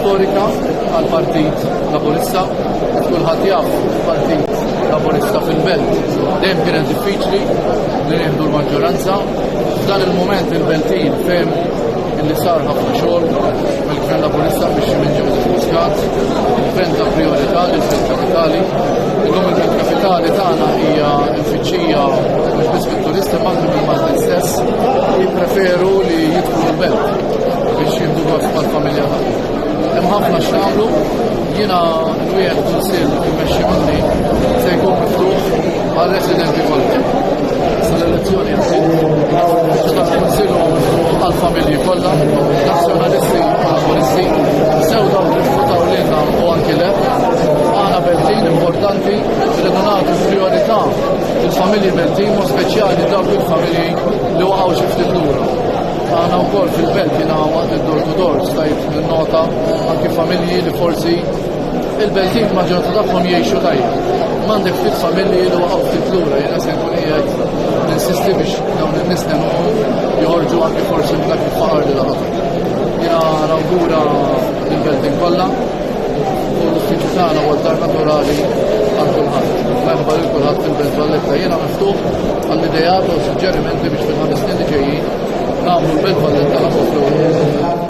storika għal-Partit Laburista, kulħadd jaf il-Partit Laburista fil-Belt. Dejjem kienet diffiċli li nieħdu l-maġġoranza. F'dan il-moment il-Beltin fehmu illi sar ħafna xogħol mill-Gvern Laburista biex minn Joseph Muscat, il-Gvern ta' priorità li l-Gvern Kapitali. Illum il-Gvern Kapitali tagħna hija l-fiċċija mhux biss Turisti Malti minn Malti stess jippreferu li jidħlu l-belt biex jibdu għaf mal-familja tagħhom. Hemm ħafna x'nagħmlu, jiena nwieħed kunsill immexxi minni se jkun miftuħ għal residenti kollha. Sal-elezzjoni jasib, kunsill għal-familji kollha, nazzjonalisti u laboristi, sew dawk li futaw lilna u anki le, għana beltin importanti li nagħtu priorità Il-familji Beltin, mod speċjali dawk il-familji li waqgħu xi ftit lura. Għana wkoll fil-belt jiena waqt id-door to door stajt nota anki familji li forsi il-Beltin maġġoranza tagħhom jgħixu tajjeb. M'għandek ftit familji li waqgħu ftit lura, jiena se nkun qiegħed ninsisti biex dawn in-nies joħorġu anki forsi minn dak il-faqar li laħaq. Jiena nawgura il-Beltin kollha L-uffiċċju tagħna huwa d-dar naturali għal kulħadd. Merħba lil kulħadd fil-Belt Valletta. Jiena miftuħ għall-ideat u suġġerimenti biex fil-ħames snin li ġejjin nagħmlu l-Belt Valletta ħafna